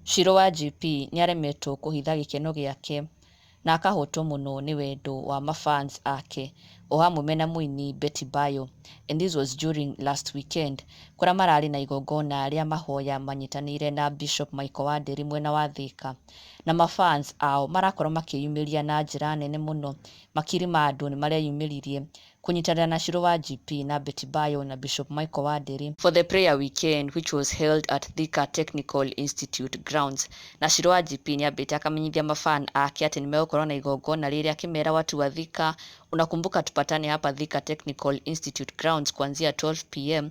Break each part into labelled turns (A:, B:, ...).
A: Shiro wa GP nĩaremetwo kũhitha gĩkeno gĩake na akahotwo mũno nĩ wendo wa mafans ake o hamwe mena mũini Betty Bayo and this was during last weekend kũrĩa mararĩ na igongona rĩa mahoya manyitanĩire na Bishop Michael Wanderi mwena wa Thika. na ma fans ao marakorwo makĩyumĩria na njĩra nene mũno, makiri ma andũ nĩmareyumĩririe kũnyitanĩra na Shiro wa GP na Betty Bayo na Bishop Michael wa Ndĩri, for the prayer weekend which was held at Thika Technical Institute grounds, na Shiro wa GP nĩambĩte akamenyithia ma fan ake atĩ nĩmegũkorwo na igongona rĩrĩ akĩmera watu wa Thika unakumbuka tupatane hapa Thika Technical Institute grounds kuanzia 12 pm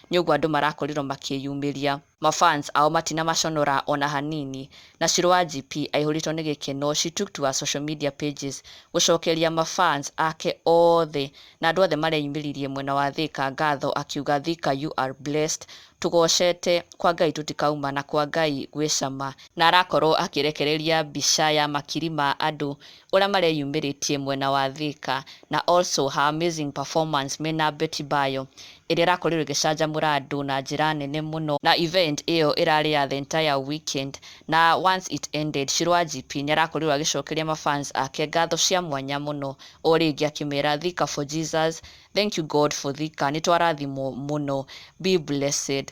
A: nyoguo andũ marakorirwo makĩyumĩria. Ma fans ao matinamaconora ona hanini, na Shiro wa GP aihũrĩtwo nĩ gĩkeno she took to her social media pages gũcokeria ma fans ake othe na andũ othe mareyumĩririe mwena wa Thika ngatho akiuga Thika you are blessed tũgocete kwa Ngai tũtikauma na kwa Ngai gwĩ cama na arakorwo akĩrekereria mbica ya makiri ma andũ ũrĩa mareyumĩrĩtie mwena wa Thika na also her amazing performance mena Betty Bayo ĩrĩa ĩrakorirwo ĩgĩcanjamũra andũ na njĩra nene mũno na event ĩyo ĩrarĩ ya the entire weekend na once it ended Shiro Wanjipi nĩarakorirwo agĩcokeria ma fans ake ngatho cia mwanya mũno o rĩngĩ akĩmera Thika for Jesus, thank you God for Thika, nĩtwarathimwo mũno, be blessed.